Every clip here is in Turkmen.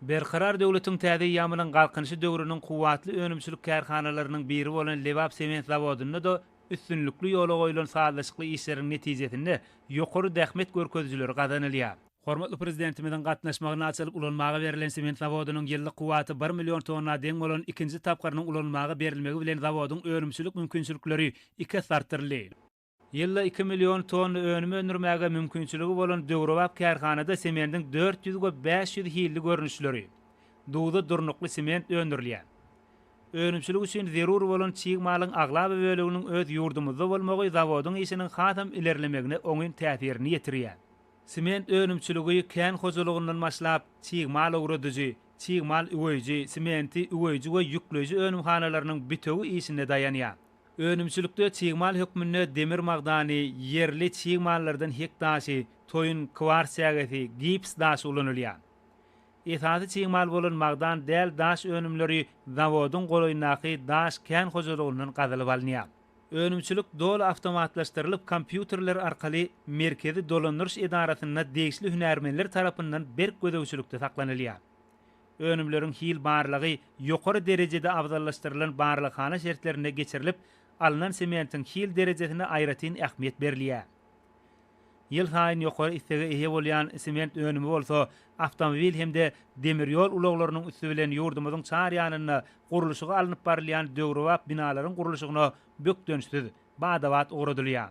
Berkarar döwletiň täze eýýamynyň Galkynyşy döwrüniň kuwwatly önümçilik kärhanalarynyň biri bolan Lebap sement zawodynda-da üstünlikli ýola goýlan sazlaşykly işleriň netijesinde ýokary zähmet görkezijileri gazanylýar. Hormatly Prezidentimiziň gatnaşmagynda açylyp ulanmaga berlen sement zawodynyň ýyllyk kuwwaty bir million tonna deň bolan ikinji tapgyrynyň ulanmaga berilmegi bilen zawodyň önümçilik mümkinçilikleri iki esse artdyryldy. Ýylda iki million tonna önüm öndürmäge mümkinçiligi bolan döwrebap kärhanada sementiň dört ýüz we bäş ýüz hilli görnüşleri, duza durnukly sement öndürilýär. Önümçilik üçin zerur bolan çig malyň aglaba böleginiň öz ýurdumyzda bolmagy zawodyň işiniň hasam ilerlemegine oňyn täsirini ýetirýär. Sement önümçiligi kän hojalygyndan başlap, çig mal owradyjy, çig mal üweýji, sementi üweýji we ýükleýji önümhanalarynyň bitewi işine daýanýar. Önümçilikde çig mal hökmünde demir magdany, ýerli çig mallardan hek daşy, toýun, kwars çägesi, gips daşy ulanylýar. Esasy çig mal bolan magdan däl daş önümleri zawodyň golaýyndaky daş kän hojalygyndan gazylyp alynýar. Önümçilik doly awtomatlaşdyrylyp kompýuterler arkaly Merkezi dolandyryş edarasynda degişli hünärmenler tarapyndan berk gözegçilikde saklanylýar. Önümleriň hil barlagy ýokary derejede abzallaşdyrylan barlaghana şertlerinde geçirilip, alnan sementiň hil derejesine aýratyn ähmiýet berilýär. Ýylsaýyn ýokary islege eýe bolýan sement önümi bolsa awtomobil hem-de demir ýol ulaglarynyň üsti bilen ýurdumyzyň çar ýanynda gurluşygy alnyp barylýan döwrebap binalaryň gurluşygyna bökdençsiz, bada-bat ugradylýar.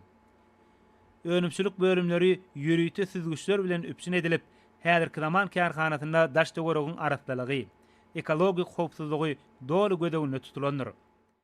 Önümçilik bölümleri ýörite süzgüçler bilen üpjün edilip, Häzirki zaman kärhanasynda daş-töweregiň arassalygy, ekologik howpsuzlygy doly göz öňünde tutulandyr.